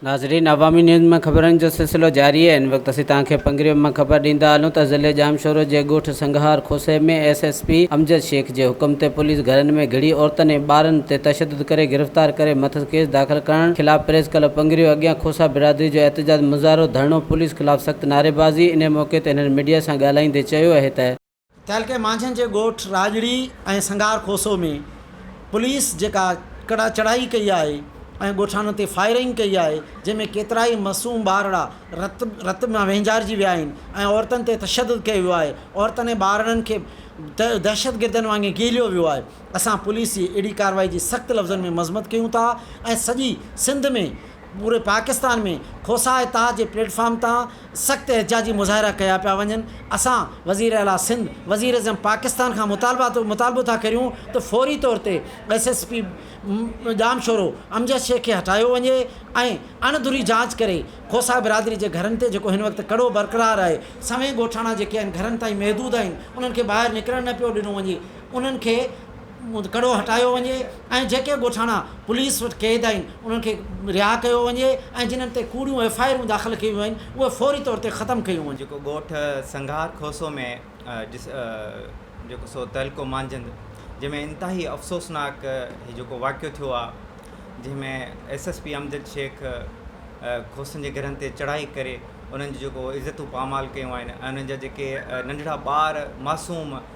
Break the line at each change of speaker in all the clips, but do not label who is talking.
ناظرين عوامي نيوز مان خبرن جو سلسلو جاري آهي ان وقت اسين توهان کي پنگريو مان خبر ڏيندا هلون ته ضلعي ڄامشورو جي ڳوٺ سنگهار کوسي ۾ S S P Amjad Shaikh جي حڪم تي پوليس گهرن ۾ گهڙي عورتن ۽ ٻارن تي تشدد ڪري گرفتار ڪري مٿس ڪيس داخل ڪرڻ خلاف پريس ڪلب پنگريو اڳيان کوسا برادري جو احتجاج مظاهرو ڌرڻو پوليس خلاف سخت نعريبازي انهي موقعي تي هنن ميڊيا سان ڳالهائيندي چيو اهي ته. تعلقي مانجهن
جي ڳوٺ راڄڙي ۽ سنگار کوسو ۾ پوليس جيڪا ڪڙا چڙهائي ڪئي آهي ۽ ڳوٺاڻن تي فائرنگ ڪئي آهي جنهن ۾ ڪيترائي معصوم ٻارڙا رت رت مان وهنجارجي ويا آهن ۽ عورتن تي تشدد ڪيو ويو آهي عورتن ۽ ٻارڙن کي دهشتگردن وانگي گهيليو ويو آهي اسان پوليس جي اهڙي ڪارروائي جي سخت لفظن ۾ مذمت ڪيون ٿا ۽ سڄي سنڌ ۾ پوري پاڪستان ۾ کوسا اتحاد جي پليٽ فارم تان سخت احتجاجي مظاهرا ڪيا پيا وڃن، اسان وزير اعليٰ سنڌ، وزيراعظم پاڪستان کان مطالبو ٿا ڪريون ته فوري طور تي S S P Jamshoro Amjad Shaikh کي هٽايو وڃي ۽ اڻ ڌري جاچ ڪري کوسا برادري جي گهرن تي جيڪو هن وقت ڪڙو برقرار آهي، سوين ڳوٺاڻا جيڪي آهن گهرن تائين محدود آهن انهن کي ٻاهر نڪرڻ نه پيو ڏنو وڃي، انهن کي. ڪڙو هٽايو وڃي ۽ جيڪي ڳوٺاڻا پوليس وٽ قيد آهن انهن کي رها ڪيو وڃي ۽ جنهن تي ڪوڙيون ايف آء آرون داخل ڪيون ويون آهن اهي فوري طور تي ختم ڪيون وڃن. جيڪو ڳوٺ سنگهار
کوسو ۾ جيڪو سو تعلقو مانجهند جنهن ۾ انتهائي افسوسناڪ هي جيڪو واقعو ٿيو آهي جنهن ۾ S S P Amjad Shaikh کوسن جي گهرن تي چڙهائي ڪري انهن جي جيڪو عزتون پامال ڪيون آهن ۽ انهن جا جيڪي ننڍڙا ٻار معصوم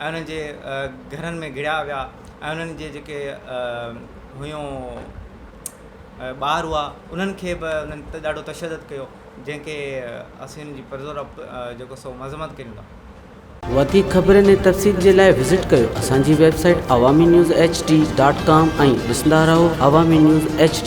۽ انهن جي گهرن ۾ گهڙيا ويا ۽ انهن جي جيڪي هيون ٻار هئا انهن کي به انهن تي ڏاڍو تشدد ڪيو جنهن کي اسين ان جي پرزور جيڪو سو مذمت ڪريون ٿا وڌيڪ
خبرن ۽ تفصيل جي لاء وزٽ ڪريو اسان جي website Awami news H D dot com ۽ ڏسندا رهو عوامي نيوز ايڇ ڊي